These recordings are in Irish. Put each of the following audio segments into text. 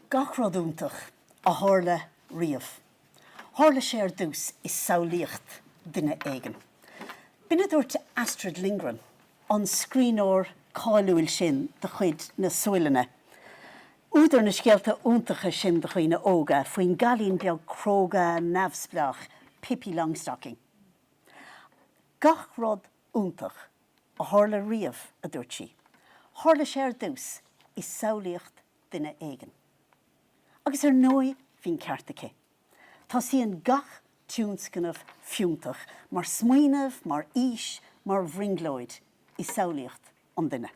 Gach rud iontach a tharla riamh, tharla sé ar dtús i samhlaíocht duine éigin. B'in a dúirt Astrid Lindgren, an scríbhneoir cáiliúil sin de chuid na Sualainne. Údar na scéalta iontacha sin do dhaoine óga faoin gcailín beag cróga neamhspleách Pippi Longstocking. Gach rud iontach a tharla riamh, a dúirt sí, tharla sé ar dtús i samhlaíocht duine éigin. Agus ar ndóigh bhí an ceart aici. Tosaíonn gach tionscnamh fiúntach mar smaoineamh, mar fhís, mar bhrionglóid i samhlaíocht an duine.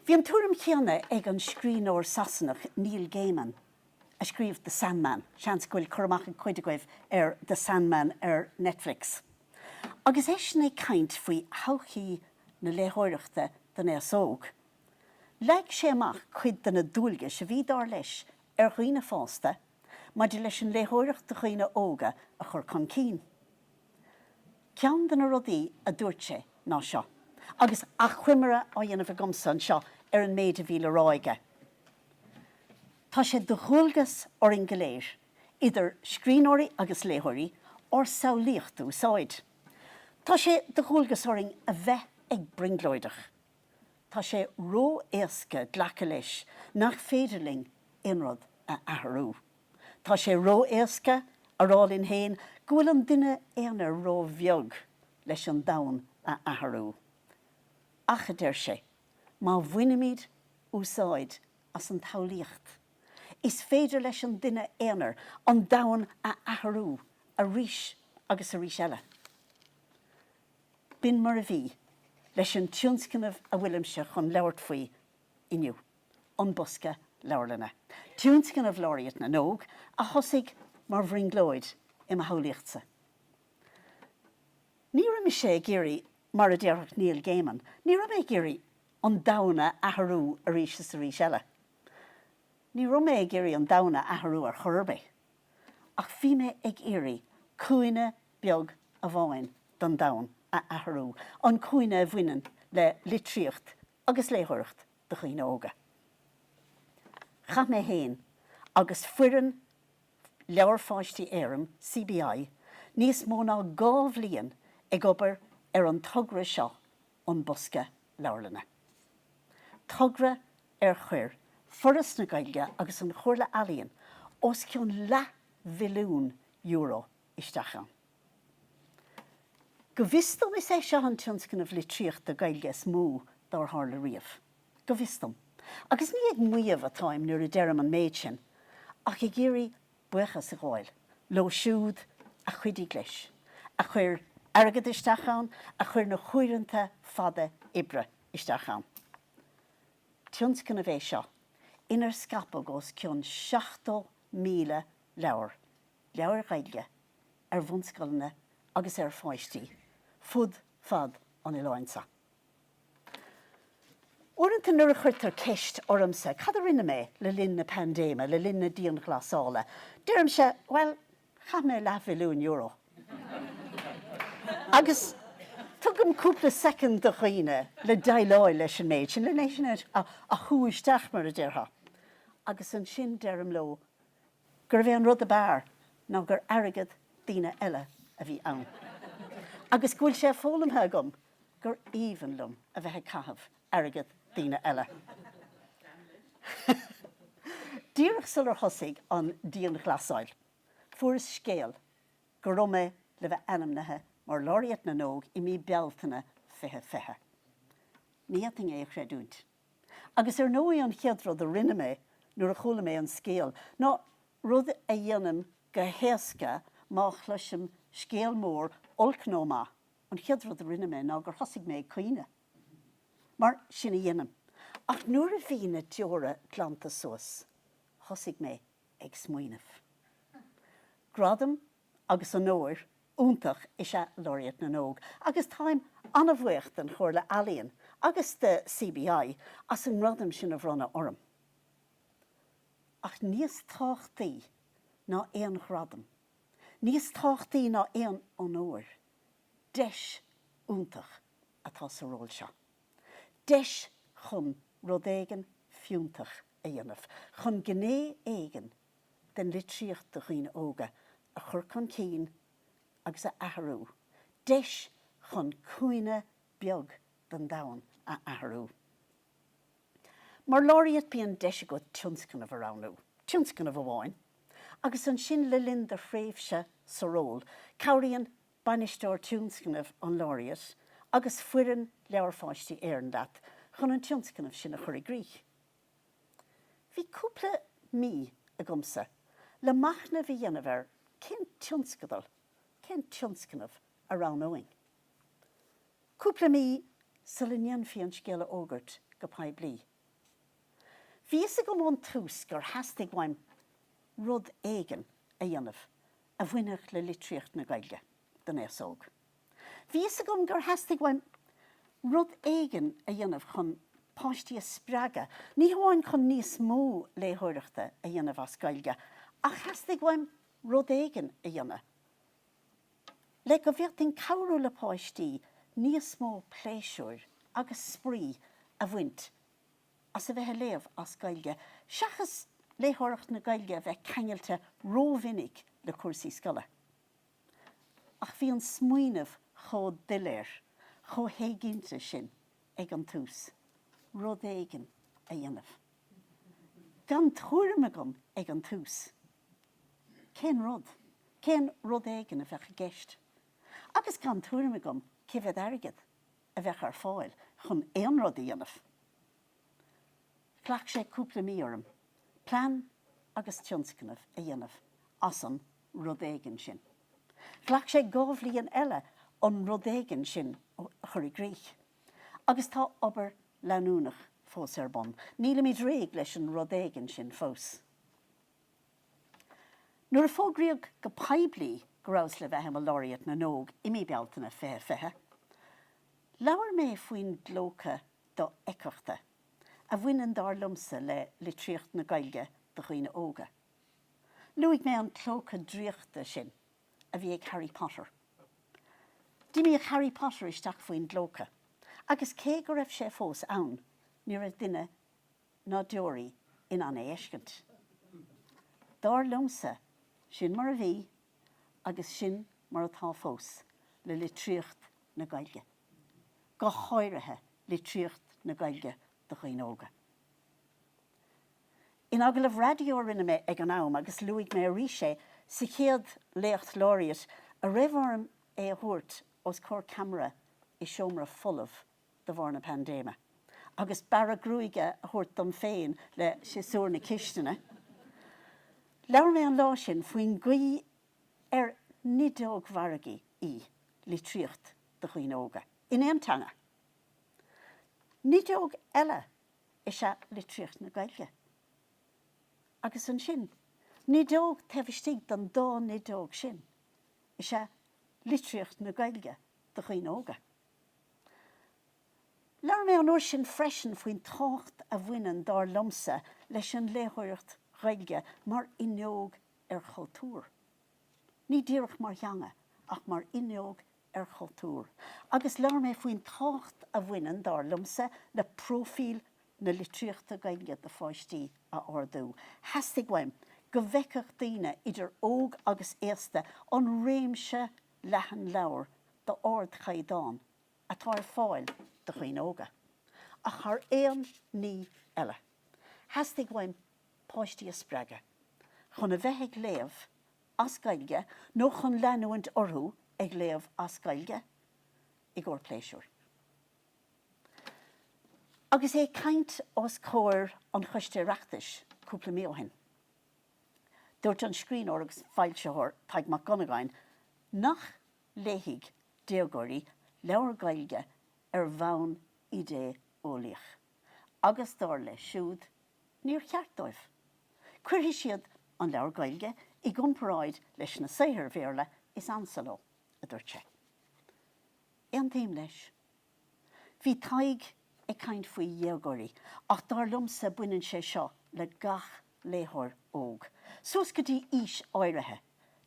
Bhí an tuairim chéanna ag an scríbhneoir Sasanach Neil Gaiman, a scríobh The Sandman, seans go bhfuil cur amach ag cuid agaibh ar The Sandman ar Netflix? agus eisean ag caint faoi thodhchaí na léitheoireachta don aos óg. Leag sé amach cuid de na dualgais a bhí, dar leis, ar dhaoine fásta maidir leis an léitheoireacht do dhaoine óga a chur chun cinn. Ceann de na rudaí a dúirt sé ná seo, agus achoimre á dhéanamh agamsa anseo ar an méid a bhí le rá aige, Tá sé de dhualgas orainn go léir, idir scríbhneoirí agus léitheoirí, ár samhlaíocht a úsáid. Tá sé de dhualgas orainn a bheith ag brionglóideach. Tá sé ró-éasca glacadh leis nach féidir linn aon rud a athrú. Tá sé ró-éasca a rá linn fhéin go bhfuil an duine aonair ró-bheag leis an domhan a athrú. Ach, a deir sé, má bhainimíd úsáid as an tsamhlaíocht, is féidir leis an duine aonair an domhan a athrú arís agus arís eile. B'in mar a bhí leis an tionscnamh a bhfuilimse chun labhairt faoi inniu, An Bosca Leabharlainne, Tionscnamh Laureate na nÓg, a thosaigh mar bhrionglóid i mo shamhlaíochtsa. Ní raibh mise ag iarraidh, mar a déarfadh Neil Gaiman, ní raibh mé ag iarraidh an domhan a athrú arís is arís eile. Ní raibh mé ag iarraidh an domhan a athrú ar chor ar bith. ach bhí mé ag iarraidh cúinne beag amháin don domhan a athrú, an cúinne a bhaineann le litríocht agus léitheoireacht do dhaoine óga. Chaith mé fhéin agus foireann Leabhair Pháistí Éireann, CBI, níos mó ná dhá bhliain ag obair ar an togra seo An Bosca Leabharlainne. Togra ar chuir Foras na Gaeilge agus an Chomhairle Ealaíon os cionn leath mhilliún euro isteach ann. Go bhfios dom is é seo an tionscnamh litríochta Gaeilge is mó dár tharla riamh. Go bhfios dom. Agus ní ag maíomh atáim nuair a deirim an méid sin ach ag iarraidh buíochas a ghabháil leo siúd a chuidigh leis, a chuir airgead isteach ann, a chuir na huaireanta fada oibre isteach ann. Tionscnamh é seo inar scaipeadh os cionn 70,000 leabhar, leabhair Ghaeilge, ar bhunscoileanna agus ar pháistí fud fad an oileáin seo. Uaireanta nuair a chuirtear ceist ormsa cad a rinne mé le linn na paindéime, le linn na dianghlasála, deirimse, bhuel, chaith mé leathmhilliún euro. Agus tugaim cúpla soicind do dhaoine le déileáil leis an méid sin, len é sin a shú isteach, mar a déarfá. Agus ansin deirim leo gurbh é an rud ab fhearr ná gur airgead daoine eile a bhí ann. Agus go bhfuil sé foghlamtha agam gur aoibhinn liom a bheith ag caitheamh airgead daoine eile. Díreach sular thosaigh an dianghlasáil, fuaireas scéal go raibh mé le bheith ainmnithe mar Laureate na nÓg i mí Bealtaine 2020. Ní fhéadfainn é a chreidiúint. Agus ar ndóigh an chéad rud a rinne mé nuair a chuala mé an scéal, ná rud a dhéanaim go héasca má chloisim scéal mór, olc nó maith, An chéad rud a rinne mé ná gur thosaigh mé ag caoineadh. Mar sin a dhéanaim. Ach nuair a bhí na deora glanta suas thosaigh mé ag smaoineamh. Gradam agus onóir iontach is ea Laureate na nÓg agus táim an-bhuíoch den Chomhairle Ealaíon agus de CBI as an ngradam sin a bhronnadh orm. Ach níos tábhachtaí ná aon ghradam Níos tábhachtaí ná aon onóir, deis iontach atá sa ról seo. Deis chun rud éigin fiúntach a dhéanamh, chun gné éigin den litríocht do dhaoine óga a chur chun cinn agus a athrú, deis chun cúinne beag den domhan a athrú. Mar Laureate bíonn deis agat tionscnamh a roghnú, tionscnamh amháin, agus ansin le linn do thréimhse sa ról cabhraíonn Bainisteoir Tionscnaimh an Laureate agus foireann Leabhair Pháistí Éireann leat chun an tionscnamh sin a chur i gcrích. Bhí cúpla mí agamsa le machnamh a dhéanamh ar cén tionscadal, cén tionscnamh a roghnóinn. Cúpla mí sula ndéanfaí an scéal a fhógairt go poiblí. Bhí fhios agam ón tús gur theastaigh uaim rud éigin a dhéanamh a bhainfeadh le litríocht na Gaeilge don aos óg. Bhí fhios agam gur theastaigh uaim rud éigin a dhéanamh chun páistí a spreagadh, ní hamháin chun níos mó léitheoireachta a dhéanamh as Gaeilge, ach theastaigh uaim rud éigin a dhéanamh. le go bhféadfainn cabhrú le páistí níos mó pléisiúir agus spraoi a bhaint as a bheith ag léamh as Gaeilge, seachas léitheoireacht na Gaeilge a bheith ceangailte ró-mhinic le cúrsaí scoile. Ach bhí an smaoineamh chomh doiléir, chomh héiginnte sin ag an tús, rud éigin a dhéanamh. gan tuairim agam ag an tús cén rud, cén rud éigin a bheadh i gceist, agus gan tuairim agam cé mhéad airgead a bheadh ar fáil chun aon rud a dhéanamh. Ghlac sé cúpla mí orm plean agus tionscnamh a dhéanamh as an rud éigin sin. Ghlac sé dhá bhliain eile an rud éigin sin a chur i gcrích. Agus tá obair leanúnach fós ar bun. Nílimid réidh leis an rud éigin sin fós. Nuair a fógraíodh go poiblí go rabhas le bheith i mo Laureate na nÓg i mí Bealtaine 2020, labhair mé faoin gclóca dofheictheachta a bhaineann, dar liomsa, le litríocht na Gaeilge do dhaoine óga. Luaigh mé an clóca draíochta sin a bhí ag Harry Potter D'imíodh Harry Potter isteach faoin gclóca agus cé go raibh sé fós ann ní raibh duine ná deoraí in ann é fheiscint. Dar liomsa, sin mar a bhí agus sin mar atá fós le litríocht na Gaeilge. Go háirithe litríocht na Gaeilge do dhaoine óga. In agallamh raidió a rinne mé ag an am, agus luaigh mé arís é sa chéad Léacht Laureate a raibh orm é a thabhairt os comhair ceamara i seomra folamh de bharr na paindéime, agus bearradh gruaige a thabhairt dom féin le siosúr na cistine, labhair mé an lá sin faoin gcaoi ar nideog mhargaidh í litríocht do dhaoine óga, in aon teanga. Nideog eile is ea litríocht na Gaeilge. Agus ansin, nideog taobh istigh den dá nideog sin is ea litríocht na Gaeilge do dhaoine óga. Labhair mé an uair sin freisin faoin tábhacht a bhaineann, dar liomsa, leis an léitheoireacht Ghaeilge mar fhuinneog ar chultúr. Ní díreach mar theanga, ach mar fhuinneog ar chultúr, agus labhair mé faoin tábhacht a bhaineann, dar liomsa, le próifíl na litríochta Gaeilge do pháistí a ardú. Theastaigh uaim go bhfeicfeadh daoine, idir óg agus aosta, an réimse leathan leabhar d'ardchaighdeán atá ar fáil do dhaoine óga, ach thar aon ní eile, theastaigh uaim páistí a spreagadh chun a bheith ag léamh as Gaeilge nó chun leanúint orthu ag léamh as Gaeilge i gcomhair pléisiúir. Agus é ag caint os comhair an Choiste Oireachtais cúpla mí ó shin, dúirt an scríbhneoir agus foilsitheoir Tadhg Mac Dhonnagáin nach léifidh déagóirí leabhair Ghaeilge ar bhonn idé-eolaíoch agus, dar leis siúd, níor cheart dóibh. Cuirfidh siad an leabhar Gaeilge i gcomparáid leis na saothair Bhéarla is ansa leo, a dúirt sé. Aontaím leis. Bhí Tadhg ag caint faoi dhéagóirí ach dar liomsa baineann sé seo le gach léitheoir óg, suas go dtí aois áirithe.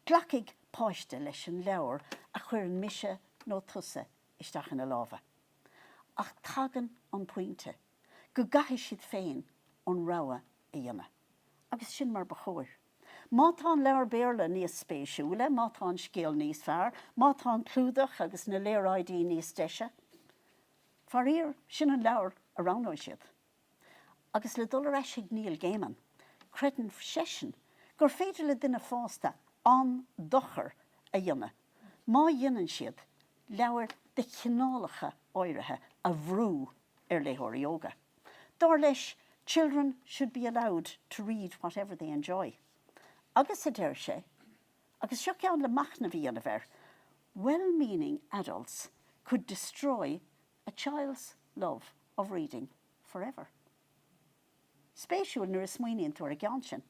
Glacfaidh páiste leis an leabhar a chuireann mise nó tusa isteach ina lámha. Ach tagann an pointe go gcaithfidh siad féin an rogha a dhéanamh. Agus sin mar ba chóir. Má tá an leabhar Béarla níos spéisiúla, má tá an scéal níos fearr, má tá an clúdach agus na léaráidí níos deise, faraor, sin an leabhar a roghnóidh siad. Agus le dul ar ais chuig Neil Gaiman, creideann seisean gur féidir le duine fásta an-dochar a dhéanamh. má dhéanann siad leabhair de chineálacha áirithe a bhrú ar léitheoirí óga. Dar leis, children should be allowed to read whatever they enjoy. Agus, a deir sé, agus seo ceann le machnamh a dhéanamh air, well meaning adults could destroy a child's love of reading forever. spéisiúil nuair a smaoiníonn tú ar an gceann sin.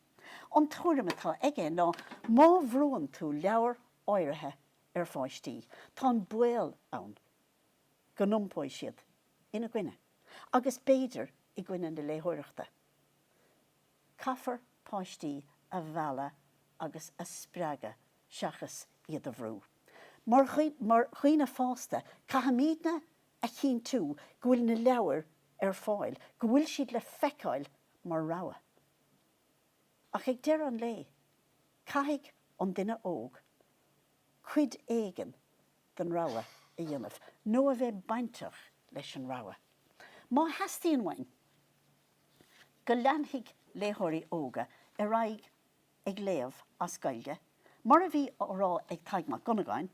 An tuairim atá aige ná má bhrúann tú leabhair áirithe ar pháistí, tá an baol ann go n-iompóidh siad ina gcoinne agus b'fhéidir i gcoinne na léitheoireachta. Caithfear páistí a mhealladh agus a spreagadh seachas iad a bhrú. Mar dhaoine fásta, caithfimídne a chinntiú go bhfuil na leabhair ar fáil, go bhfuil siad le feiceáil mar rogha. Ach ag deireadh an lae, caithfidh an duine óg cuid éigin den rogha a dhéanamh, nó a bheith bainteach leis an rogha, má theastaíonn uainn go leanfaidh léitheoirí óga ar aghaidh ag léamh as Gaeilge. Mar a bhí á rá ag Tadhg Mac Dhonnagáin,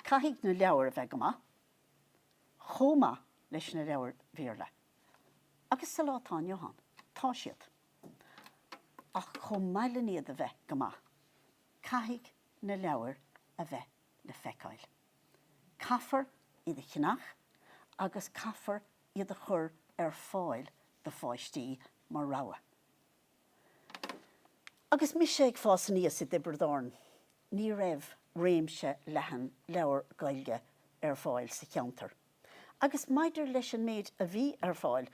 caithfidh na leabhair a bheith go maith, chomh maith leis na leabhair Bhéarla. Agus sa lá atá inniu ann, tá siad. Ach chomh maith len iad a bheith go maith, caithfidh na leabhair a bheith le feiceáil. Caithfear iad a cheannach agus caithfear iad a chur ar fáil do pháistí mar rogha. Agus mise ag fás aníos i dTiobraid Árann, Ní raibh réimse leathan leabhar Gaeilge ar fáil sa cheantar agus maidir leis an méid a bhí ar fáil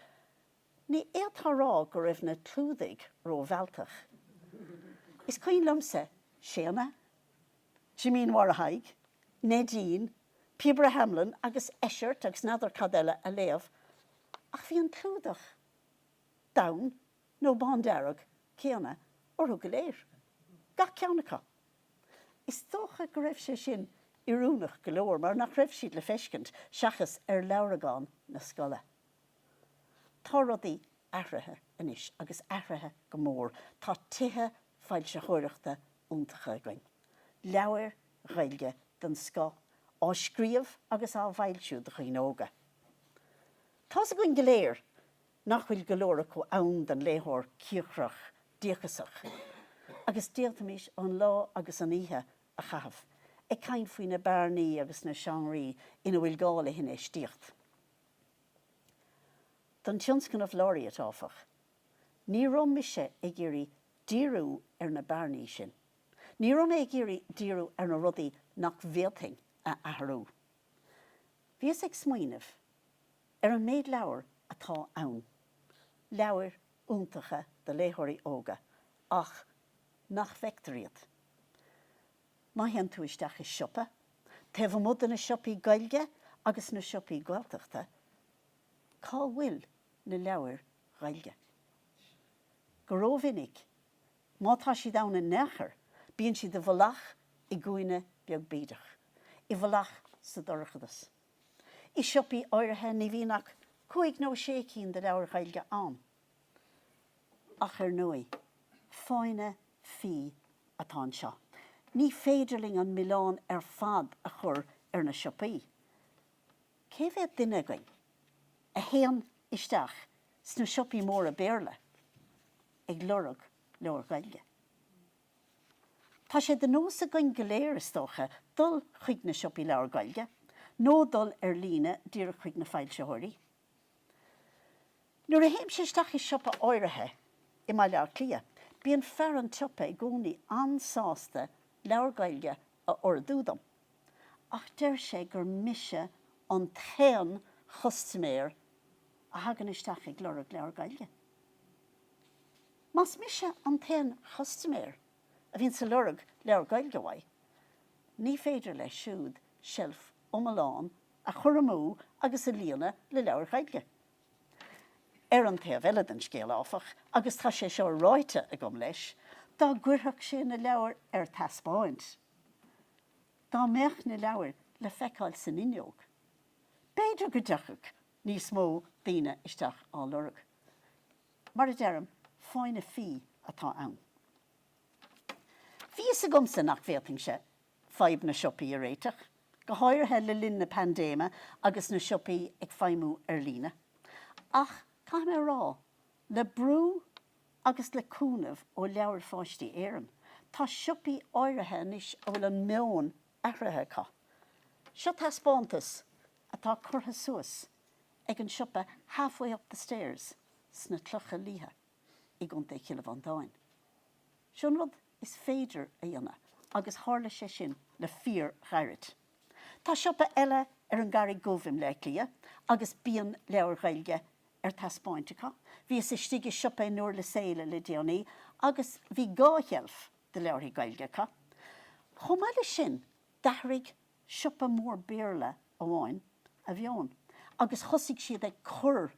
ní fhéadfá a rá go raibh na clúdaigh ró-mhealltach. Is cuimhin liomsa Séadna, Jimín Mháire Thaidhg, Neidín, Píobaire Hamelin agus Eisirt agus n'fheadar cad eile a léamh ach bhí an clúdach donn nó bándearg céanna orthu go léir, gach ceann acu. Is dócha go raibh sé sin oiriúnach go leor mar nach raibh siad le feiscint seachas ar leabhragán na scoile. Tá rudaí athraithe anois agus athraithe go mór, tá tithe foilsitheoireachta iontacha againn, leabhair Ghaeilge den scoth á scríobh agus á bhfoilsiú do dhaoine óga. Tá's againn go léir Nach bhfuil go leor acu ann don léitheoir cíocrach díocasach? Agus d'fhéadfaimís an lá agus an oíche a chaitheamh ag caint faoi na bearnaí agus na seánraí ina bhfuil gá le hinfheistíocht. Don Tionscnamh Laureate, áfach, ní raibh mise ag iarraidh díriú ar na bearnaí sin. Ní raibh mé ag iarraidh díriú ar na rudaí nach bhféadfainn a athrú. Bhíos ag smaoineamh. Ar an méid leabhar atá ann, leabhair iontacha do léitheoirí óga ach nach bhfeictear iad. Má théann tú isteach i siopa, taobh amuigh de na siopaí Gaeilge agus na siopaí Gaeltachta, cá bhfuil na leabhair Ghaeilge? Go rómhinic, má tá siad ann in aon chor, bíonn siad i bhfolach i gcúinne beag bídeach, i bhfolach sa dorchadas. I siopaí áirithe ní bhíonn ach cúig nó sé cinn de leabhair Ghaeilge ann. Ach ar ndóigh, fáinne fí atá anseo. Ní féidir linn an milleán ar fad a chur ar na siopaí. Cé mhéad duine againn a théann isteach sna siopaí móra Béarla ag lorg leabhar Gaeilge? Tá sé de nós againn go léir, is dócha, dul chuig na siopaí leabhar Gaeilge, nó dul ar líne díreach chuig na foilsitheoirí. Nuair a théimse isteach i siopa áirithe i mBaile Átha Cliath, bíonn fear an tsiopa i gcónaí an-sásta leabhar Gaeilge a ordú dom, ach deir sé gur mise an t-aon chustaiméir a thagann isteach ag lorg leabhar Gaeilge. Más mise an t-aon chustaiméir a bhíonns ag lorg leabhar Gaeilge uaidh, ní féidir leis siúd seilf iomlán a chur amú agus a líonadh le leabhair Ghaeilge. Ar an taobh eile den scéal, áfach, agus tá sé seo ráite agam leis, dá gcuirfeadh sé na leabhair ar taispeáint, dá mbeadh na leabhair le feiceáil san fhuinneog, b'fhéidir go dtiocfadh níos mó daoine isteach á lorg. Mar a deirim, fáinne fí atá ann. Bhí fhios agamsa nach bhféadfainnse fadhb na siopaí a réiteach, go háirithe le linn na paindéime agus na siopaí ag feidhmiú ar líne. Ach caithfidh mé a rá, le brú agus le cúnamh ó Leabhair Pháistí Éireann, tá siopaí áirithe anois a bhfuil an meon athraithe acu. Seo taispeántas atá curtha suas ag an siopa Halfway Up the Stairs sna Clocha Liatha i gContae Chill Mhantáin. Seo an rud is féidir a dhéanamh agus tharla sé sin le fíorghairid. Tá siopa eile ar an gCarraig Dhubh i mBleá Cliath agus bíonn leabhair Ghaeilge ar taispeáint acu. Bhíos istigh i siopa i nDúrlas Éile le déanaí agus bhí dhá sheilf de leabharthaí Gaeilge acu. Chomh maith leis sin, d'athraigh siopa mór Béarla amháin a mheon agus thosaigh siad ag cur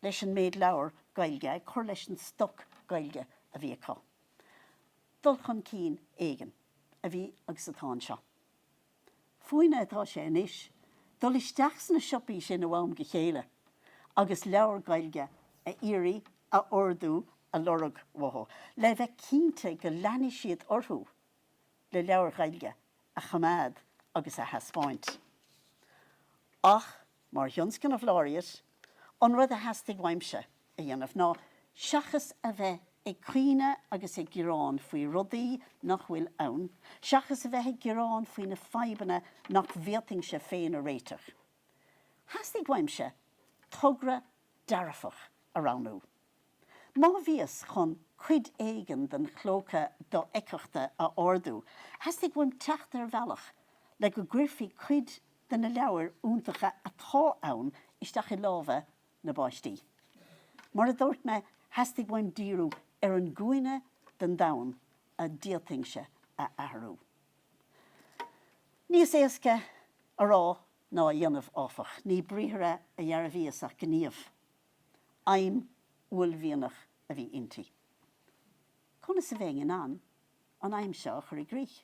leis an méid leabhar Gaeilge, ag cur leis an stoc Gaeilge a bhí acu. Dul chun cinn éigin a bhí agus atá anseo. Fúinne atá sé anois dul isteach sna siopaí sin ó am go chéile agus leabhar Gaeilge a iarraidh, a ordú, a lorg uathu, le bheith cinnte go leanfaidh siad orthu. le leabhair Ghaeilge a choimeád agus a thaispeáint. Ach mar Thionscnamh Laureate, an rud a theastaigh uaimse a dhéanamh ná seachas a bheith ag caoineadh agus ag gearán faoi rudaí nach bhfuil ann, seachas a bheith ag gearán faoi na fadhbanna nach bhféadfainnse féin a réiteach, theastaigh uaimse togra dearfach a roghnú. Má bhíos chun cuid éigin den chlóca dofheicthachta a ardú, theastaigh uaim teacht ar bhealach le go gcuirfí cuid de na leabhair iontacha atá ann isteach i lámha na bpáistí. Mar a dúirt mé, theastaigh uaim díriú ar an gcúinne den domhan a d'fhéadfainnse a athrú. Níos éasca a rá ná a dhéanamh, áfach. Ní briathra a dhearbhaíos ach gníomh. Aidhm uaillmhianach a bhí inti. Conas a bheinn in ann an aidhm seo a chur i gcrích?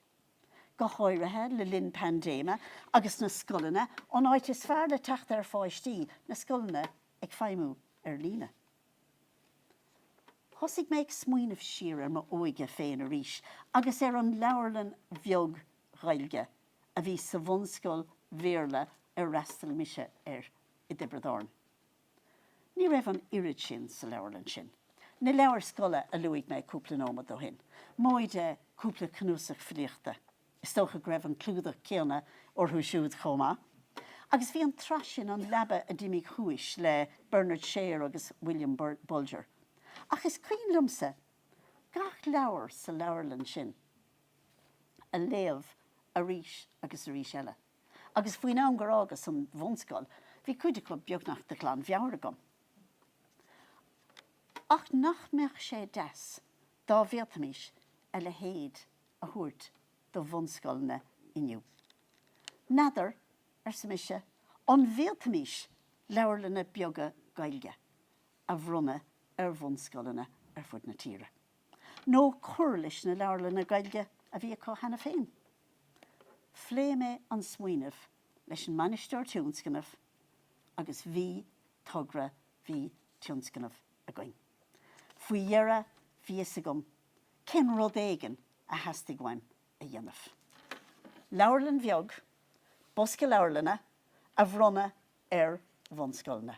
Go háirithe le linn paindéime agus na scoileanna an áit is fearr le teacht ar pháistí, na scoileanna, ag feidhmiú ar líne. Thosaigh mé ag smaoineamh siar ar m'óige féin arís agus ar an leabharlann bheag Ghaeilge a bhí sa bhunscoil Bhéarla ar fhreastail mise air i dTiobraid Árann. Ní raibh an oiread sin sa leabharlann sin. Na leabhair scoile a luaigh mé cúpla nóimead ó shin, móide cúpla cnuasach filíochta, is dócha go raibh an clúdach céanna orthu siúd chomh maith. Agus bhí an tsraith sin An Leaba a d'Imigh Suas le Bernard Share agus William Bolger. Ach is cuimhin liomsa gach leabhar sa leabharlann sin a léamh arís agus arís eile. agus faoin am gur fhágas an bhunscoil bhí cuid acu beagnach de ghlanmheabhair agam. Ach nach mbeadh sé deas dá bhféadfaimís a leithéid a thabhairt do bhunscoileanna inniu? N'fheadar, arsa mise, an bhféadfaimís leabharlanna beaga Gaeilge a bhronnadh ar bhunscoileanna ar fud na tíre? nó cur leis na leabharlanna Gaeilge a bhí acu cheana féin. Phléigh mé an smaoineamh leis an mBainisteoir Tionscnamh agus bhí togra, bhí tionscnamh againn. Faoi dheireadh bhí a fhios agam cén rud éigin a theastaigh uaim a dhéanamh. Leabharlann bheag, bosca leabharlainne, a bhronnadh ar bhunscoileanna.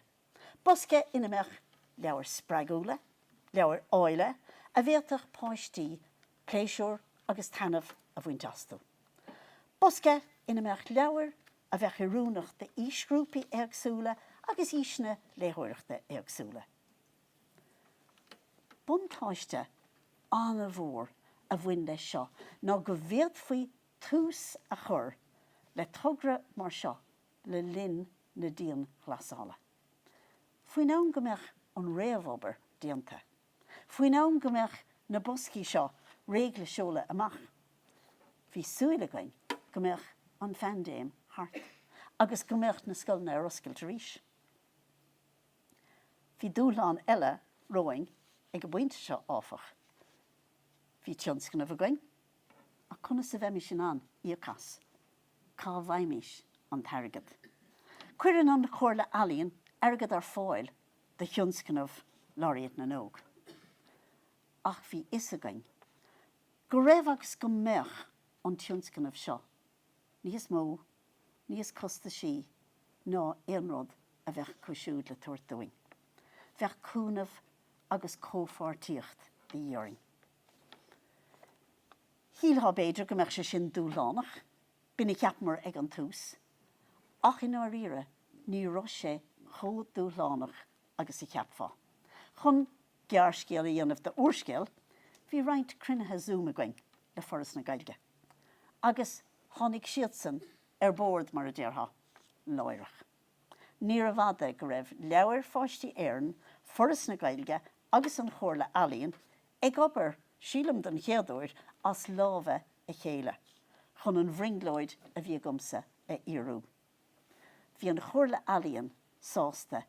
Bosca ina mbeadh leabhair spreagúla, leabhair áille a bhféadfadh páistí pléisiúr agus taitneamh a bhaint astu. Bosca ina mbeadh leabhair a bheadh oiriúnach d'aoisghrúpaí éagsúla agus aoiseanna léitheoireachta éagsúla. Buntáiste an-mhór a bhain leis seo ná go bhféadfaí tús a chur le togra mar seo le linn na dianghlasála. Faoin am go mbeadh an réamhobair déanta, faoin am go mbeadh na boscaí seo réidh le seoladh amach, bhí súil againn go mbeadh an phaindéim thart agus go mbeadh na scoileanna ar oscailt arís. Bhí dúshlán eile romhainn ag an bpointe seo, áfach. Bhí tionscnamh againn. Ach conas a bheimis in ann íoc as? Cá bhfaighimis an t-airgead? Cuireann an Chomhairle Ealaíon airgead ar fáil do thionscnamh Laureate na nÓg. Ach bhí a fhios againn go raibh agus go mbeadh an tionscnamh seo níos mó, níos costaisí ná aon rud a bheadh acu siúd le tabhairt dúinn. Bheadh cúnamh agus comhpháirtíocht de dhíth orainn. Shílfeá b'fhéidir go mbeadh sé sin dúshlánach, b'in a cheapamar ag an tús, ach i ndáiríre ní raibh sé chomh dúshlánach agus a cheapfá. Chun gearrscéal a dhéanamh de úrscéal, bhí roinnt cruinnithe Zoom againn le Foras na Gaeilge, agus tháinig siadsan ar bord, mar a déarfá, láithreach. Níorbh fhada go raibh Leabhair Pháistí Éireann, Foras na Gaeilge agus an Chomhairle Ealaíon ag obair, sílim don chéad uair, as lámha a chéile chun an bhrionglóid a bhí agamsa a fhíorú. Bhí an Chomhairle Ealaíon sásta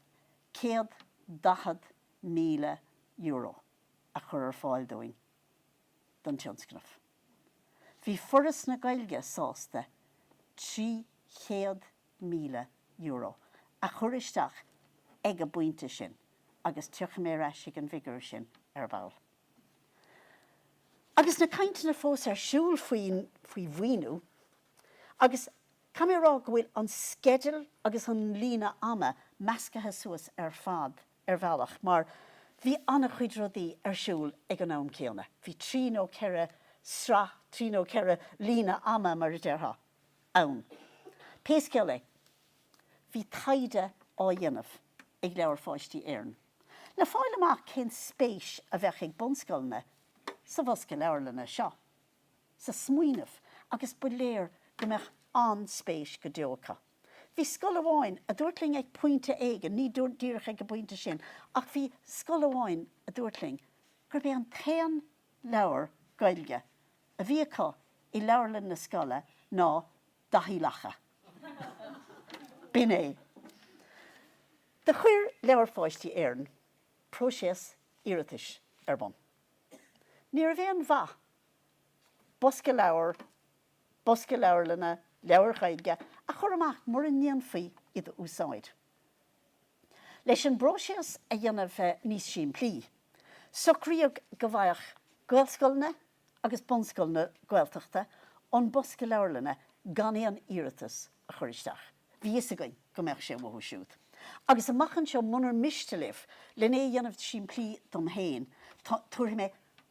€140,000 a chur ar fáil dúinn don tionscnamh. Bhí Foras na Gaeilge sásta 300 míle euro a chur isteach ag an bpointe sin agus tiocfaidh mé ar ais ag an bhfigiúr sin ar ball. Agus na cainteanna fós ar siúl faoi mhaoiniú, agus caithfidh mé a rá go bhfuil an sceideal agus an líne ama meascaithe suas ar fad ar bhealach mar bhí an-chuid rudaí ar siúl ag an am céanna. Bhí trí nó ceithre sraith, trí nó ceithre líne ama mar a déarfá, ann. Pé scéal é, bhí taighde á dhéanamh ag Leabhair Pháistí Éireann le fáil amach cén spéis a bheadh ag bunscoileanna sa bhosca leabharlainne seo, sa smaoineamh, agus ba léir go mbeadh an-spéis go deo acu. Bhí scoil amháin a dúirt linn ag pointe éigin, ní díreach ag an bpointe sin, ach bhí scoil amháin a dúirt linn gurb é an t-aon leabhar Gaeilge a bhí acu i leabharlann na scoile ná Daithí Lacha. B'in é. Do chuir Leabhair Pháistí Éireann próiséas iarratais ar bun. Ní raibh aon mhaith bosca leabhar, bosca leabharlainne, leabhair Ghaeilge a chur amach mura ndéanfaí iad a úsáid. Leis an bpróiséas a dhéanamh níos simplí, socraíodh go bhfaigheadh Gaelscoileanna agus bunscoileanna Gaeltachta an bosca leabharlainne gan aon iarratas a chur isteach. Bhí fhios againn go mbeadh sé uathu siúd. Agus amach anseo munar miste libh lena dhéanamh simplí dom héin, tabharfaidh mé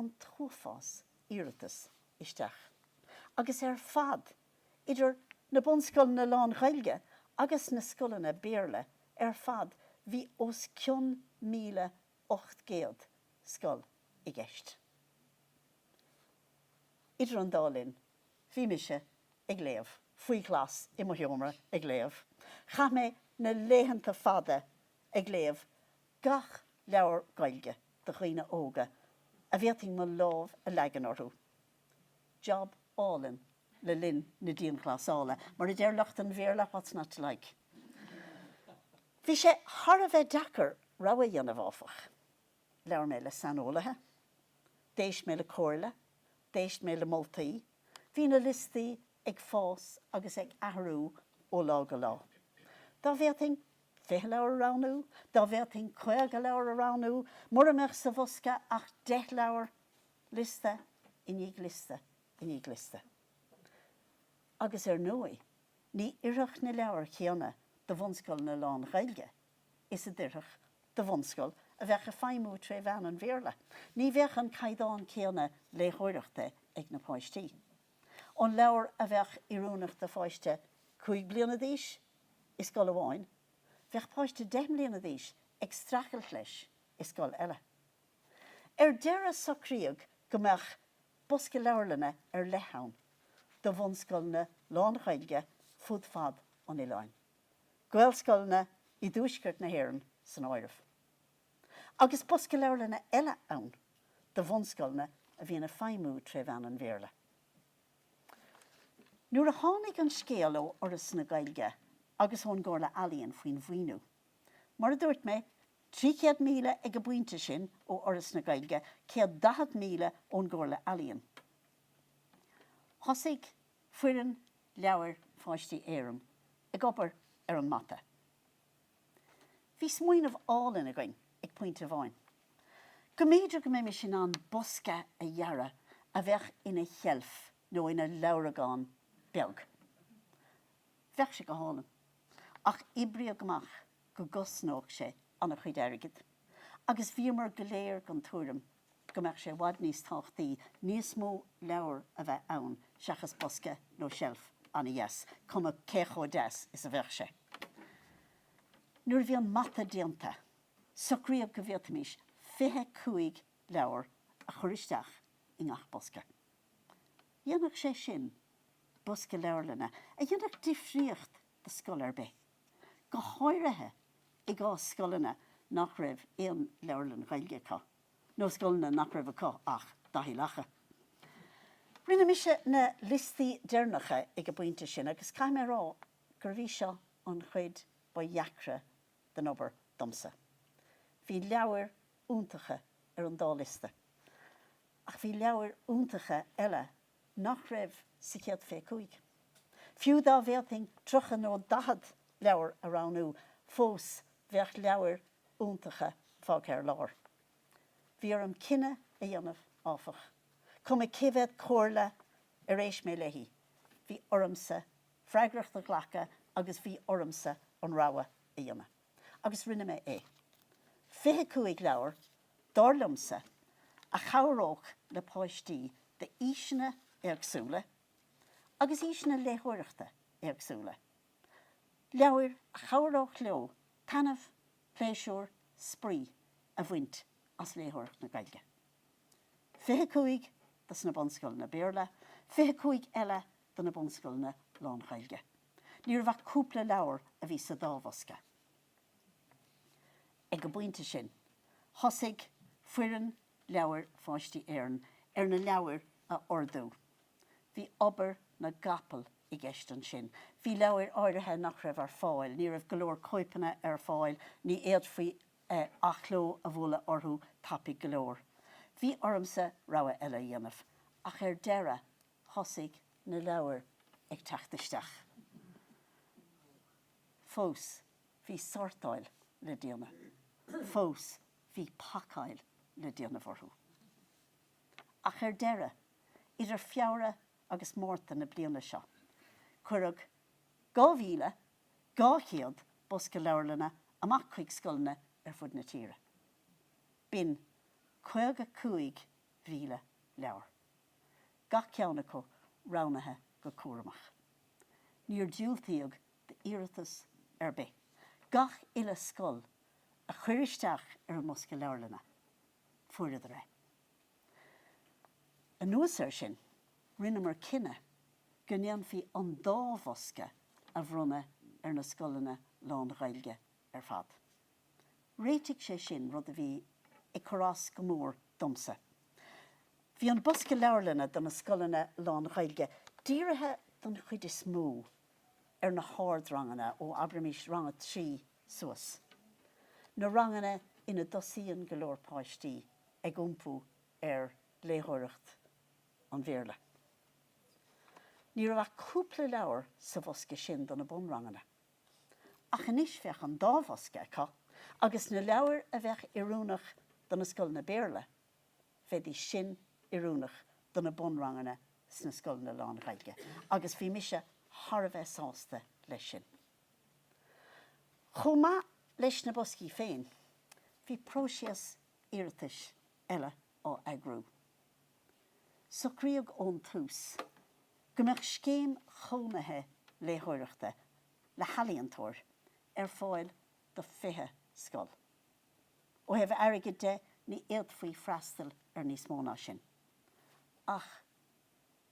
an t-uafás iarratas isteach agus ar fad idir na bunscoileanna lán-Ghaeilge agus na scoileanna Béarla ar fad bhí os cionn míle ocht gcéad scoil i gceist. Idir an dá linn bhí mise ag léamh faoi ghlas i mo sheomra ag léamh. Chaith mé na laethanta fada ag léamh gach leabhar Gaeilge do dhaoine óga a bhféadfainn mo lámh a leagan orthu. Job álainn le linn na dianghlasála, mar a deir lucht an Bhéarla, what's not to like? Bhí sé thar a bheith deacair rogha a dhéanamh, áfach. Labhair mé le saineolaithe, d'éist mé le comhairle, d'éist mé le moltaí, bhí na liostaí ag fás agus ag athrú ó lá go lá. Dá bhféadfainn fiche leabhar a roghnú, dá bhféadfainn caoga leabhar a roghnú, mura mbeadh sa bhosca ach deich leabhar, liosta i ndiaidh liosta i ndiaidh liosta. Agus ar ndóigh ní oirfeadh na leabhair chéanna do bhunscoileanna lán-Ghaeilge is a d'oirfeadh do bhunscoil a bheadh ag feidhmiú tré mheán an Bhéarla. Ní bheadh an caighdeán céanna léitheoireachta ag na páistí. an leabhar a bheadh oiriúnach do pháiste cúig bliana d'aois i scoil amháin, bheadh páiste deich mbliana d'aois ag streachailt leis i scoil eile. Ar deireadh socraíodh go mbeadh bosca leabharlainne ar leith ann do bhunscoileanna lán-Ghaeilge fud fad an oileáin, Gaelscoileanna i dTuaisceart na hÉireann san áireamh. agus bosca leabharlainne eile ann do bhunscoileanna a bhíonn ag feidhmiú tré mheán an Bhéarla. Nuair a tháinig an scéal ó Fhoras na Gaeilge agus ón gComhairle Ealaíon faoin mhaoiniú, mar a dúirt mé, 300,000 ag an bpointe sin ó Fhoras na Gaeilge, 140,000 ón gComhairle Ealaíon, thosaigh foireann Leabhair Pháistí Éireann ag obair ar an mata. Bhí smaoineamh álainn againn ag pointe amháin. Go mb'fhéidir go mbeimis in ann bosca a dhearadh a bheadh ina sheilf nó ina leabhragán beag. Bheadh sé go hálainn. Ach oibríodh amach go gcosnódh sé an-chuid airgid agus bhíomar go léir den tuairim go mbeadh sé i bhfad níos tábhachtaí níos mó leabhar a bheith ann seachas bosca nó seilf an-deas, cuma cé chomh deas is a bheadh sé. Nuair a bhí an mata déanta, socraíodh go bhféadfaimís fiche cúig leabhar a chur isteach i ngach bosca. Dhéanfadh sé sin bosca leabharlainne, a dhéanfadh difríocht do scoil ar bith. go háirithe i gcás scoileanna nach raibh aon leabharlann Ghaeilge acu, nó scoileanna nach raibh acu ach Daithí Lacha. Rinne mise na liostaí deireanacha ag an bpointe sin agus caithfidh mé a rá gurbh í seo an chuid ba dheacra den obair domsa. Bhí leabhair iontacha ar an dá liosta, ach bhí leabhair iontacha eile nach raibh sa chéad fiche cúig. Fiú dá bhféadfainn tríocha nó daichead leabhar a roghnú fós bheadh leabhair iontacha fágtha ar lár. Bhí orm cinneadh a dhéanamh, áfach. Cuma cé mhéad comhairle ar éist mé léi, bhí ormsa freagracht a ghlacadh agus bhí ormsa an rogha a dhéanamh. agus rinne mé é. Fiche cúig leabhar, dar liomsa, a chabhródh le páistí d'aoiseanna éagsúla agus aoiseanna léitheoireachta éagsúla. Leabhair a chabhródh leo taithneamh, pléisiúr, spraoi a bhaint as léitheoireacht na Gaeilge. Fiche cúig dos na bunscoileanna Béarla, fiche cúig eile do na bunscoileanna lán-Ghaeilge. Ní raibh ach cúpla leabhar a bhí sa dá bhosca. Ag an bpointe sin, thosaigh foireann Leabhair Pháistí Éireann ar na leabhair a ordú. Bhí obair na gcapall i gceist ansin. Bhí leabhair áirithe nach raibh ar fáil, ní raibh go leor cóipeanna ar fáil, ní fhéadfaí athchló a bhualadh orthu tapaidh go leor. Bhí ormsa rogha eile a dhéanamh. Ach ar deireadh, thosaigh na leabhair ag teacht isteach fós. Bhí sórtáil le déanamh fós, bhí pacáil le déanamh orthu. Ach ar deireadh, idir Feabhra agus Márta na bliana seo, cuireadh 2,200 bosca leabharlainne amach chuig scoileanna ar fud na tíre. B'in 55,000 leabhar. gach ceann acu roghnaithe go cúramach. Níor diúltaíodh d'iarratas ar bith gach uile scoil a chuir isteach ar an mbosca leabharlainne, fuaireadar é. Anuas air sin, rinneamar cinneadh go ndéanfaí an dá bhosca a bhronnadh ar na scoileanna lán-Ghaeilge ar fad. Réitigh sé sin rud a bhí ag cur as go mór domsa. Bhí an bosca leabharlainne do na scoileanna lán-Ghaeilge dírithe don chuid is mó ar na hardranganna ó, abraimís, rang a trí suas, na ranganna ina dtosaíonn go leor páistí ag iompú ar léitheoireacht an Bhéarla. Ní raibh ach cúpla leabhar sa bhosca sin do na bunranganna. Ach anois bheadh an dá bhosca acu agus na leabhair a bheadh oiriúnach do na scoileanna Béarla, bheidís sin oiriúnach do na bunranganna sna scoileanna lán-Ghaeilge agus bhí mise thar a bheith sásta leis sin. Chomh maith leis na boscaí féin, bhí próiseas iarratais eile á eagrú. Socraíodh ón tús go mbeadh scéim chónaithe léitheoireachta le healaíontóir ar fáil do 20 scoil. Ó thaobh airgid de, ní fhéadfaí freastal ar níos mó ná sin. Ach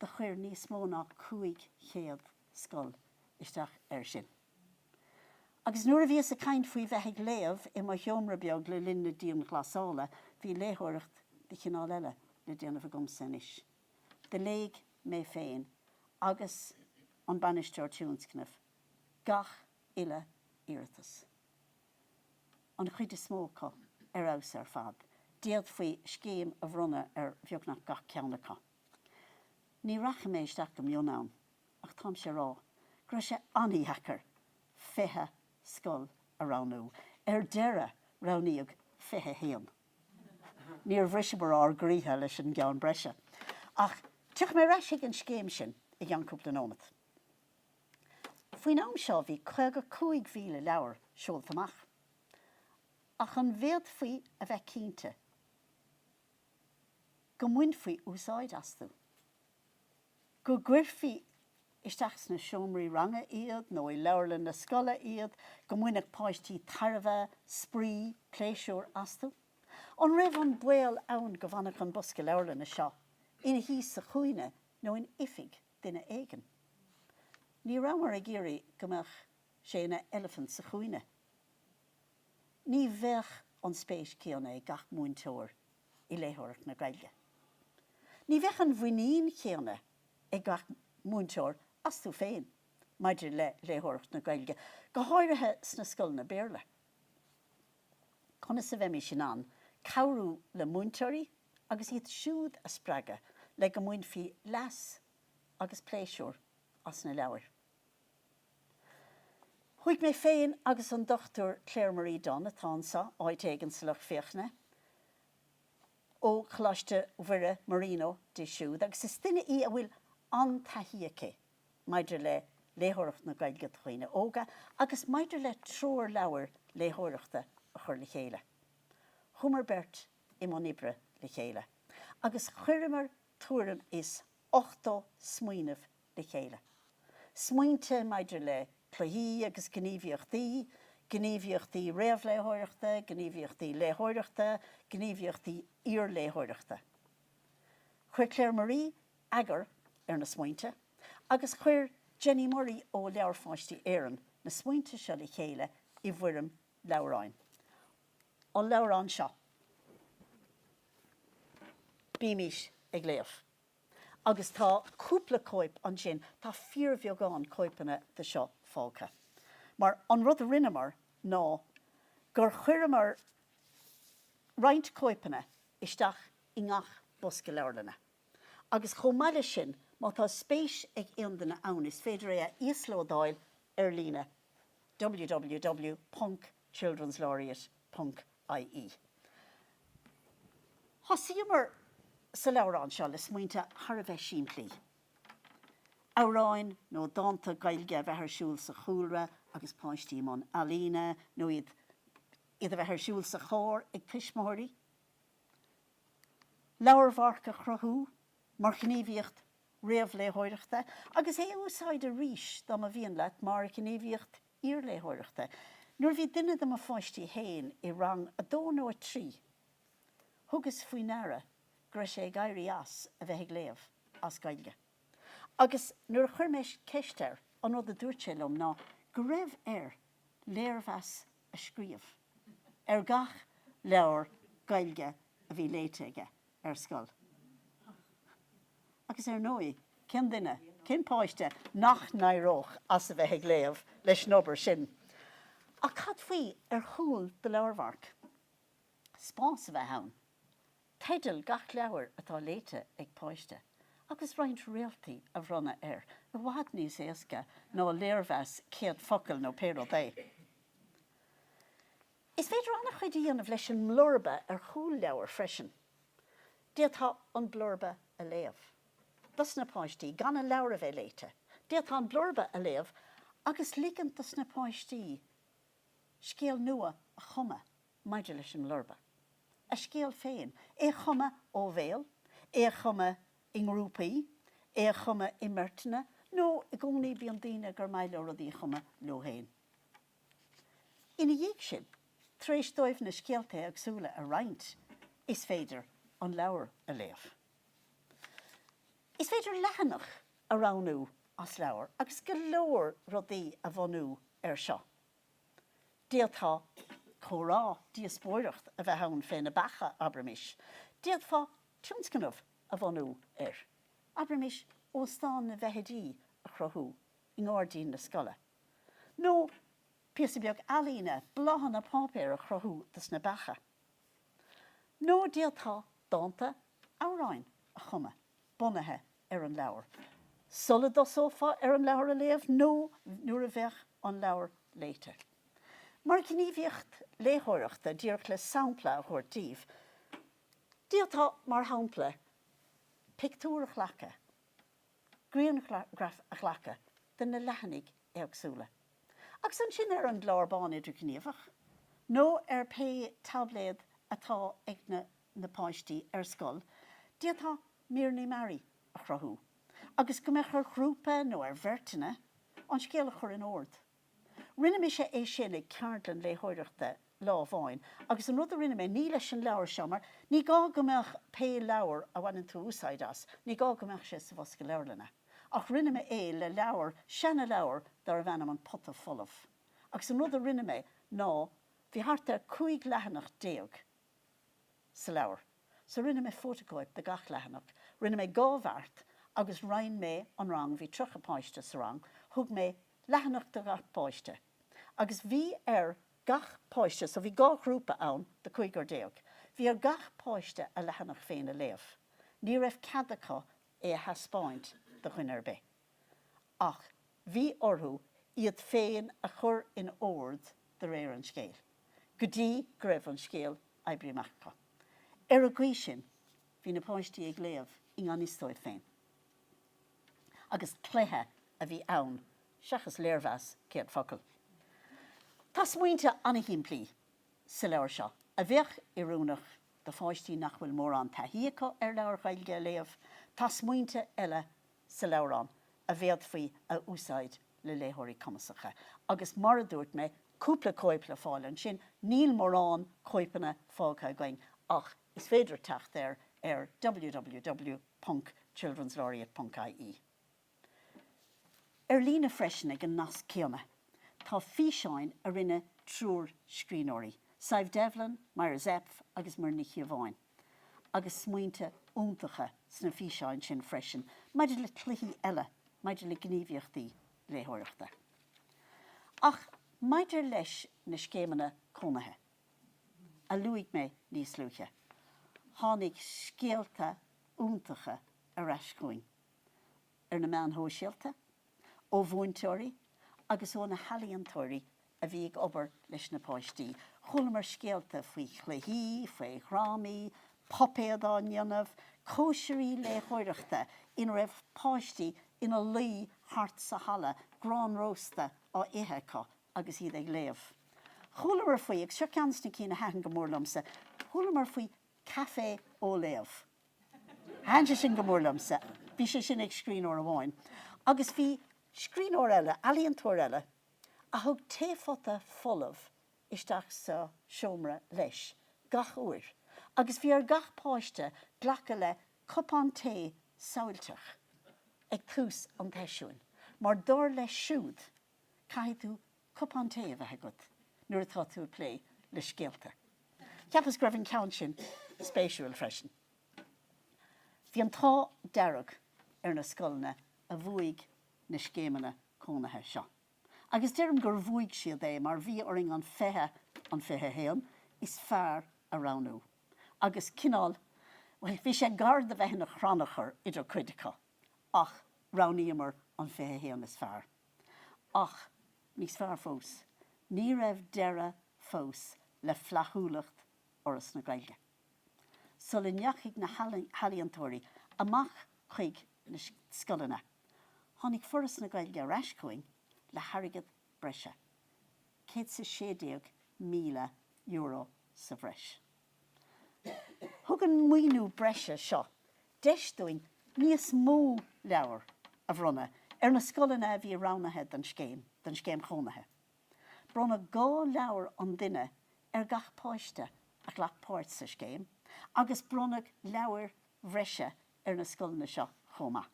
do chuir níos mó ná 500 scoil isteach air sin. Agus nuair a bhíos ag caint faoi bheith ag léamh i mo sheomra beag le linn na dianghlasála, bhí léitheoireacht de chineál eile le déanamh agamsa anois. Do léigh mé féin agus an Bainisteoir Tionscnaimh gach uile iarratas, an chuid is mó acu ar fheabhas ar fad, d'fhéadfaí scéim a bhronnadh ar bheagnach gach ceann acu. Ní rachaidh mé isteach go mion ann. Ach táimse á rá go raibh sé an-dheacair fiche scoil a roghnú. Ar deireadh roghnaíodh fiche haon. Níor bhriseamar ár gcroíthe leis an gceann breise. Ach tiocfaidh mé ar ais ag an scéim sin i gceann cúpla nóimeat. Faoin am seo bhí caoga cúig mhíle leabhar seolta amach. Ach an bhféadfaí a bheith cinnte go mbainfí úsáid astu? go gcuirfí isteach sna seomraí ranga iad nó i leabharlann na scoile iad, go mbainfeadh páistí tairbhe, spraoi, pléisiúr astu. An raibh an baol ann go bhfanfadh an bosca leabharlainne seo ina shuí sa chúinne nó in oifig duine éigin? Ní rabhamar ag iarraidh go mbeadh sé ina eilifint sa chúinne. Ní bheadh an spéis céanna ag gach múinteoir i léitheoireacht na Gaeilge. Ní bheadh an mhuinín chéanna ag gach múinteoir astu féin maidir le léitheoireacht na Gaeilge, go háirithe sna scoileanna Béarla. Conas a bheimís in ann cabhrú le múinteoirí agus iad siúd a spreagadh le go mbainfí leas agus pléisiúr as na leabhair? Chuaigh mé féin agus an Dr Claire Marie Dunne, atá anseo, áit éigin sa lucht féachana, ó Choláiste Mhuire, Marino, di siúd agus is duine í a bhfuil an-taithí aici maidir le léitheoireacht na Gaeilge do dhaoine óga agus maidir le treoirleabhair léitheoireachta a chur le chéile. Chuamar beirt i mbun oibre le chéile agus chuireamar tuairim is ochtó smaoineamh le chéile. Smaointe maidir le cluichí agus gníomhaíochtaí, gníomhaíochtaí réamhléitheoireachta, gníomhaíochtaí léitheoireachta, gníomhaíochtaí iarléitheoireachta. Chuir Claire Marie eagar ar na smaointe agus chuir Jenny Murray ó Leabhair Pháistí Éireann na smaointe seo le chéile i bhfoirm leabhráin. An leabhrán seo. Bímis ag léamh. agus tá cúpla cóip ansin, tá fíorbheagán cóipeanna de seo fágtha. Mar, an rud a rinneamar ná gur chuireamar roinnt cóipeanna isteach i ngach bosca leabharlainne. Agus chomh maith leis sin, má tá spéis ag aon duine ann, is féidir é a íoslódáil ar líne, www. Children's Laureate ponc ie. Thosaíomar sa leabhrán seo le smaointe thar a bheith simplí, amhráin nó dánta Gaeilge a bheith ar siúl sa chúlra agus páistí i mbun ealaíne nó iad iad a bheith ar siúl sa charr ag tuismitheoirí, leabharmharc a chruthú mar ghníomhaíocht réamhléitheoireachta agus é a úsáid arís dá mba mhian leat mar ghníomhaíocht iarléitheoireachta. Nuair a bhí duine de mo pháistí féin i rang a dó nó a trí thugas faoi ndeara go raibh sé ag éirí as a bheith ag léamh as Gaeilge agus nuair a chuir mé ceist air an rud a dúirt sé liom ná go raibh air léirmheas a scríobh ar gach leabhar Gaeilge a bhí léite aige. ar scoil. Agus ar ndóigh, cén duine, cén páiste nach n-éireodh as a bheith ag léamh leis an obair sin? Ach cad faoi ar chúl do leabharmhairc? Spás a bheith ann. Teideal gach leabhair atá léite ag páiste, agus roinnt réaltaí a bhronnadh air, i bhfad níos éasca ná léirmheas céad focal nó pé rud é. Is féidir an-chuid a dhéanamh leis an mblurba ar chúl leabhair freisin. D'fhéadfá an blurba a léamh. dos na páistí, gan an leabhar a bheith léite. D'fhéadfá an blurba a léamh agus ligint dos na páistí scéal nua a chumadh maidir leis an mblurba. A scéal féin. É a chumadh ó bhéal, é a chumadh i ngrúpaí, é a chumadh i mbeirteanna, nó i gcónaí bíonn daoine gur maith leo rudaí a chumadh leo féin. Ina dhiaidh sin, tar éis dóibh na scéalta éagsúla a roinnt, is féidir an leabhar a léamh. Is féidir leathanach a roghnú as leabhar agus go leor rudaí a bhunú air seo. D'fhéadfá comhrá, díospóireacht a bheith ann fé na beacha, abraimis. D'fhéadfá tionscnamh a bhunú air, abraimis, Óstán na bhFeithidí a chruthú i ngairdín na scoile. Nó píosa beag ealaíne, bláthanna páipéir a chruthú dos na beacha. Nó d'fhéadfá dánta, amhráin a chumadh bunaithe ar an leabhar, sula dtosófá ar an leabhar a léamh nó nuair a bheadh an leabhar léite. Mar ghníomhaíocht léitheoireachta, díreach le sampla a thabhairt daoibh, d'fhéadfá, mar shampla, pictiúr a ghlacadh, grianghraf a ghlacadh de na leathanaigh éagsúla agus ansin ar an gclár bán idirghníomhach nó ar pé taibléad atá ag na páistí ar scoil d'fhéadfá míreanna mearaí a chruthú agus go mbeadh ar ghrúpa nó ar bheirteanna an scéal a chur in ord. Rinne mise é sin ag ceardlann léitheoireachta lá amháin agus an rud a rinne mé, ní leis an leabhar seo, mar ní gá go mbeadh pé leabhar a bhaineann tú úsáid as, ní gá go mbeadh sé sa bhosca leabharlainne, ach rinne mé é le leabhar, seana leabhar darbh ainm An Pota Folamh. Agus an rud a rinne mé ná bhí thart ar cúig leathanach déag sa leabhar, so rinne mé fótacóip de gach leathanach, rinne mé dhá bheart agus roinn mé an rang, bhí tríocha páiste sa rang, thug mé leathanach do ghach páiste agus bhí ar gach páiste, so bhí dhá ghrúpa ann de chúigear déag, bhí ar gach páiste a leathanach féin a léamh. Ní raibh cead acu é a theaspáint do dhuine ar bith ach bhí orthu iad féin a chur in ord de réir an scéil go dtí go raibh an scéal oibrithe amach acu. Ar an gcaoi sin bhí na páistí ag léamh i ngan fhios dóibh féin. agus cluiche a bhí ann seachas léirmheas céad focal. Tá smaointe an-shimplí sa leabhar seo a bheadh oiriúnach do pháistí nach bhfuil mórán taithí acu ar leabhair Ghaeilge a léamh, tá smaointe eile sa leabhrán a bhféadfaí a úsáid le léitheoirí cumasacha. Agus mar a dúirt mé, cúpla cóip le fáil ansin, níl mórán cóipeanna fágtha againn ach, Is féidir teacht air ar www.childrenslaureate.ie. Ar líne freisin ag an nasc céanna tá físeáin a rinne triúr scríbhneoirí, Sadhbh Devlin, Myra Zepf agus Muireann Ní Chíobháin, agus smaointe iontacha sna físeáin sin freisin maidir le cluichí eile, maidir le gníomhaíochtaí léitheoireachta. Ach maidir leis na scéimeanna cónaithe. a luaigh mé níos luaithe, tháinig scéalta iontacha ar ais chugainn, ar na meáin shóisialta, ó mhúinteoirí agus ó na healaíontóirí a bhí ag obair leis na páistí. Chualamar scéalta faoi chluichí, faoi dhrámaí, puipéid á ndéanamh, cóisirí léitheoireachta ina raibh páistí ina luí thart sa halla, grán rósta á ithe acu, agus iad ag léamh. Chualamar faoi, agus seo ceann de na cinn a thaitin go mór liomsa, chualamar faoi Café Ó Léamh. Thaitin sé sin go mór liomsa. Bhí sé sin ag scríbhneoir amháin. Agus bhí scríbhneoir eile, ealaíontóir eile, a thug taephota folamh isteach sa seomra leis gach uair. Agus bhí ar gach páiste glacadh le cupán tae samhailteach ag tús an tseisiúin, mar dar leis siúd, caithfidh tú cupán tae a bheith agat nuair atá tú ag plé le scéalta. Cheapas go raibh an ceann sin spéisiúil freisin. Bhí an t-ádh dearg ar na scoileanna a bhuaigh na scéimeanna cónaithe seo. Agus deirim gur bhuaigh siad é mar bhí orainn an 20, an 21 is fearr a roghnú. Agus cineál, bhuel, bhí sé gar do bheith ina chrannchur idir cuid acu. ach roghnaíomar an 21 is fearr. Ach níos fearr fós, ní raibh deireadh fós le flaithiúlacht Fhoras na Gaeilge. Sula ndeachaigh na healaíontóirí amach chuig na scoileanna, tháinig Foras na Gaeilge ar ais chugainn le hairgead breise, céad is a sé déag míle euro sa bhreis. Thug an maoiniú breise seo deis dúinn níos mó leabhar a bhronnadh ar na scoileanna a bhí roghnaithe den scéim, den Scéim Chónaithe. Bronnadh dhá leabhar an duine ar gach páiste a ghlac páirt sa scéim agus bronnadh leabhair bhreise ar na scoileanna seo chomh maith.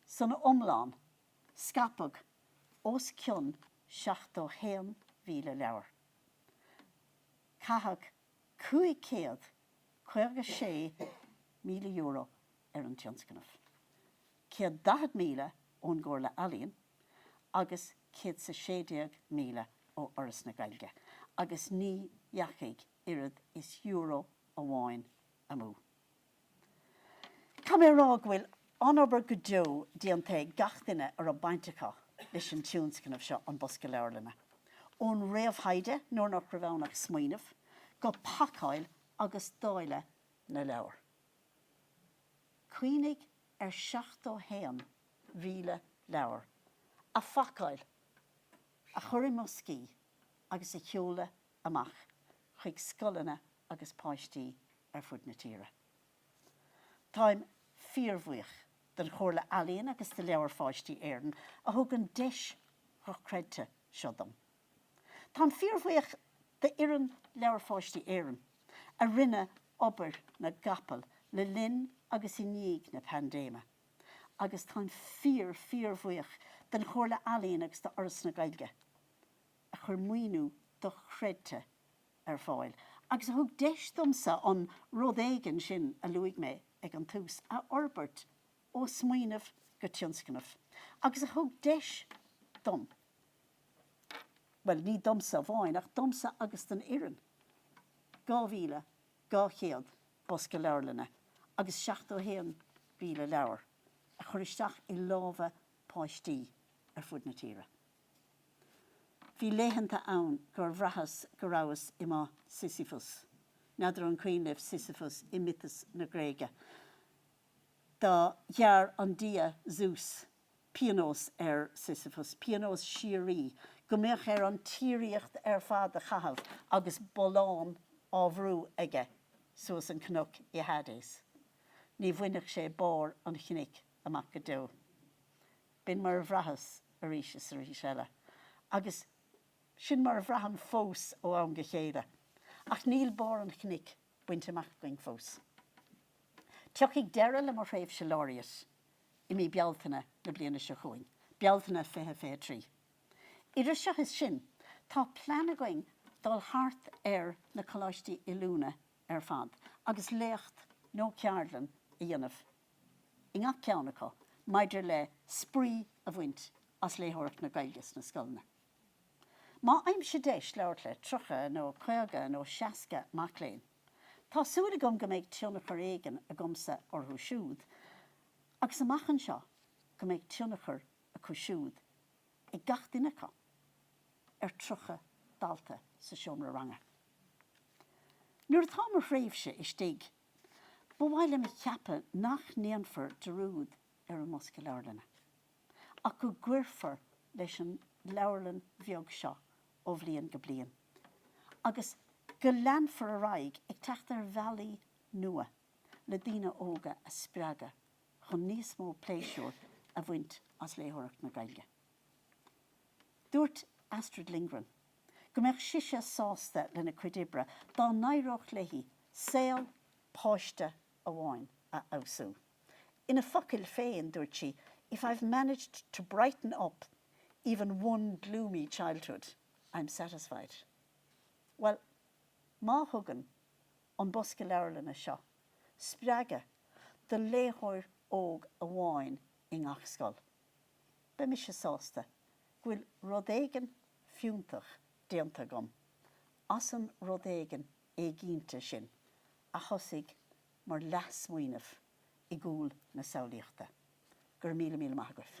San iomlán, scaipeadh os cionn 71,000 leabhar. Caitheadh €556,000 ar an tionscnamh, ceithre chéad daichead míle ón gComhairle Ealaíon agus céad is a sé déag míle ó Fhoras na Gaeilge, agus ní dheachaigh oiread is euro amháin amú. Caithfidh mé a rá go bhfuil an-obair go deo déanta ag gach duine a raibh baint acu leis an tionscnamh seo An Bosca Leabharlainne, ón réamhthaighde, nuair nach raibh ann ach smaoineamh, go pacáil agus dáileadh na leabhar. Cuimhnigh ar 71,000 leabhar a phacáil, a chur i mboscaí agus a sheoladh amach chuig scoileanna agus páistí ar fud na tíre. Táim fíorbhuíoch den Chomhairle Ealaíon agus de Leabhair Pháistí Éireann a thug an deis dhochreidte seo dom. Táim fíorbhuíoch d'fhoireann Leabhair Pháistí Éireann a rinne obair na gcapall le linn agus i ndiaidh na paindéime agus táim fíor-fíorbhuíoch den Chomhairle Ealaíon agus do Fhoras na Gaeilge a chuir maoiniú dochreidte ar fáil agus a thug deis domsa an 'rud éigin' sin a luaigh mé ag an tús a fhorbairt ó smaoineamh go tionscnamh agus a thug deis dom, bhuel ní domsa amháin ach domsa agus don fhoireann, 2,200 bosca leabharlainne agus 71,000 leabhar a chur isteach i lámha páistí ar fud na tíre. Bhí laethanta ann gur bhraitheas go rabhas i mo Sisyphus. N'fheadar an cuimhin libh Sisyphus i miotas na Gréige? Do ghearr an dia Zeus pionós ar Sisyphus, pionós síoraí, go mbeadh air an tsíoraíocht ar fad a chaitheamh agus bollán á bhrú aige suas an cnoc i Hades. Ní bhainfeadh sé barr an chnoic amach go deo. B'in mar a bhraitheas arís is arís eile. Agus sin mar a bhraithim fós ó am go chéile. Ach níl barr an chnoic bainte amach againn fós. Tiocfaidh deireadh le mo thréimhse Laureate i mí Bealtaine na bliana seo chugainn, Bealtaine 2023. Idir seo is sin, tá plean againn dul thart ar na coláistí oiliúna ar fad agus léacht nó ceardlann a dhéanamh. i ngach ceann acu maidir le spraoi a bhaint as léitheoireacht na Gaeilge sna scoileanna. Má fhaighimse deis labhairt le 30 nó 50 nó 60 mac léinn, tá súil agam go mbeidh tionchar éigin agamsa orthu siúd agus amach anseo go mbeidh tionchar acu siúd ag gach duine acu ar 30 dalta sa seomra ranga. Nuair atá mo thréimhse istigh Ba mhaith liom a cheapadh nach ndéanfar dearúd ar an mBosca Leabharlainne ach go gcuirfear leis an leabharlann bheag seo ó bhliain go bliain agus go leanfar ar aghaidh ag teacht ar bhealaí nua le daoine óga a spreagadh chun níos mó pléisiúir a bhaint as léitheoireacht na Gaeilge. Dúirt Astrid Lindgren go mbeadh sise sásta lena cuid oibre dá n-éireodh léi saol páiste amháin a fheabhsú. Ina focail féin, dúirt sí, If I've managed to brighten up even one gloomy childhood, I'm satisfied. Bhuel, má thugann an bosca leabharlainne seo spreagadh do léitheoir óg amháin i ngach scoil, beidh mise sásta go bhfuil rud éigin fiúntach déanta agam as an rud éigin éiginnte sin a thosaigh mar leathsmaoineamh i gcúl na samhlaíochta. Go raibh míle míle maith agaibh.